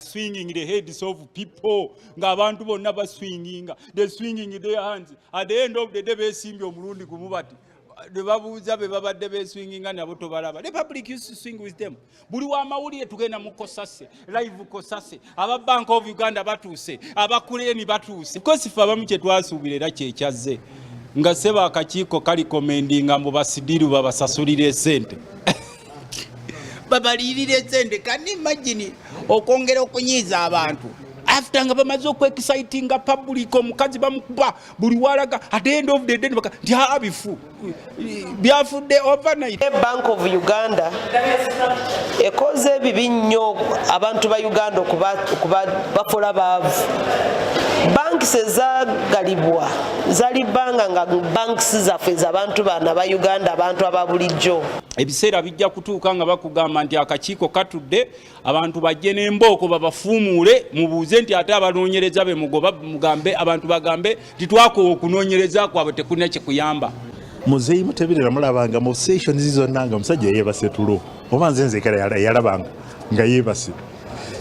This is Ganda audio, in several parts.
swinging the heads of people nga abantu bonna baswinginga the swinging their hands at the end of the day besimbye omulundi gumu bati bebabuuza be babadde beswinginga nabo tobalaba the public used to swing with them buli wamawulire tugenda mu kosase live kosase aba bank of uganda batuuse abakuleeni batuuse kosi fe abamu kyetwasuubira era kyekyazze nga seba akakiiko kalikomendinga mbu basidiru babasasulira esente babaliyirira esente kani imagine okwongera okunyiiza abantu after nga bamaze okwexcitinga public omukazi bamukuba buli walaga at the end of the day nibaka nti haa bifu byafudde overnight bank of uganda ekoze ebibi nnyo abantu ba uganda okubakola baavu banks ezagalibwa zali banga nga banks zaffe zabantu baana ba uganda abantu ababulijjo ebiseera bijja kutuuka nga bakugamba nti akakiiko katudde abantu bajje n'embooko babafuumuule mubuuze nti ate abanoonyereza be mugoba mugambe abantu bagambe nti twakowa okunoonyereza kwabwe tekulina kyekuyamba muzeeyi muteberera mulabanga mu sessions zonna nga omusajja yeebase tulo oba nze nzekera yalabanga nga yeebase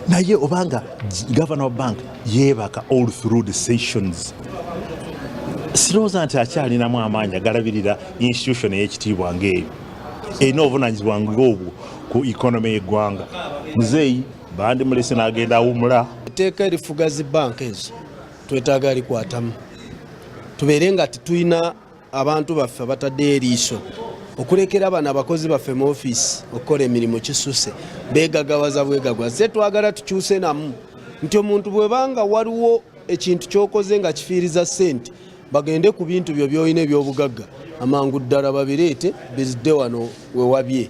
naye obanga gavana wa bank yeebaka all through the sessions sirowooza nti akyalinamu amaanyi agalabirira institution ey'ekitiibwa ng'eyo erina obuvunanyizibwa ng'obwo ku economy y'eggwanga muzeeyi bandi mulese n'agenda awumula etteeka erifuga zi banka ezo twetaaga likwatamu tubeere nga tetulina abantu baffe abataddeyo eriiso okulekera bano abakozi baffe mu ofiisi okukola emirimu kisuse begagawaza bwegagwa ze twagala tukyuse namu nti omuntu bwebanga waliwo ekintu kyokoze nga kifiiriza sente bagende ku bintu byo byolina ebyobugagga amangu ddala babireete bizidde wano wewabye